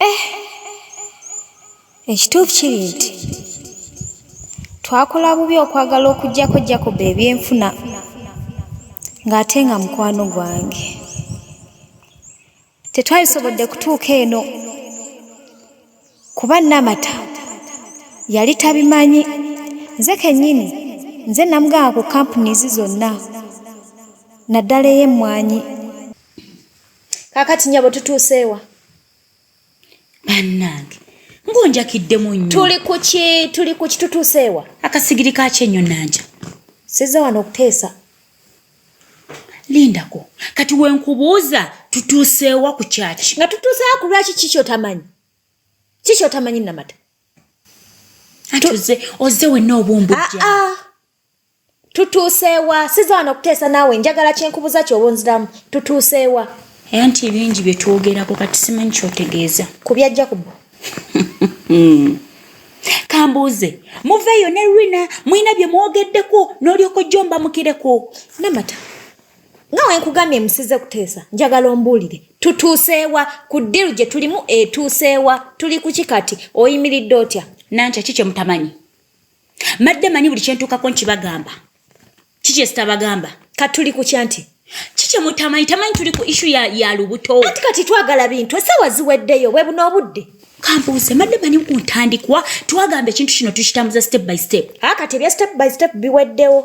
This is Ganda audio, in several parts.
Eh, ekituufu kiri nti twakola bubi okwagala okuggyako Jacob ebyenfuna ng'ate nga mukwano gwange. Tetwasobodde kutuuka eno kuba Namata yali tabimanyi. Nze kennyini nze namugamba ku kampuniizi zonna naddala ey'emmwanyi. kakati nyabo tutuuseewa bannange ngonjakiddemu nnyo tuli kuki tuli kuki tutuuseewa akasigiri kaki enyo nanja sizza wano okuteesa lindako kati wenkubuuza tutuuseewa ku kyaki nga tutuuseewa ku lwaki kikyotamanyi kikyotamanyi namata ati oze oze wenna obumbujja ah, ah. tutuuseewa siza wano okuteesa naawe njagala kyenkubuza kyoba onziramu tutuuseewa era nti ebingi bye twogerako kati simanyi kyotegeeza ku bya jakubu kambuuze muveeyo ne rina mulina bye mwogeddeko n'olyoko jjo mbamukireko namata nga wenkugambye musize kuteesa njagala ombuulire tutuuseewa ku ddiru gye tulimu etuuseewa tuli kuki kati oyimiridde otya nankya ki kye mutamanyi madde manyi buli kyentuukako nkibagamba kiki ezitabagamba kati tuli kukya nti kiki mutamanyi tamanyi tuli ku ishu ya, ya lubuto anti kati twagala bintu esawa ziweddeyo webuna obudde kambuuze madde manyi ku ntandikwa twagamba ekintu kino tukitambuza step by step a kati ebya step by step biweddewo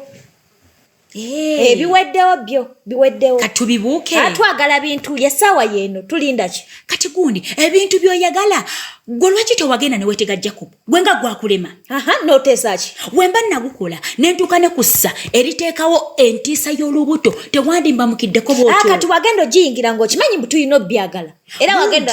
Eh, ebiweddewo byo biweddewo katubibuuke atwagala ah, bintu yesaawa yeeno tulinda ki kati gundi ebintu byoyagala gwe lwaki tewagenda newetega jacob gwe nga gwakulema aha noteesa ki wemba nagukola nentuuka ne kussa eriteekawo entiisa y'olubuto tewandimba mukiddeko bwotyo ah, kati wagenda ogiyingira ngaokimanyi mbu tulina obyagala era wagenda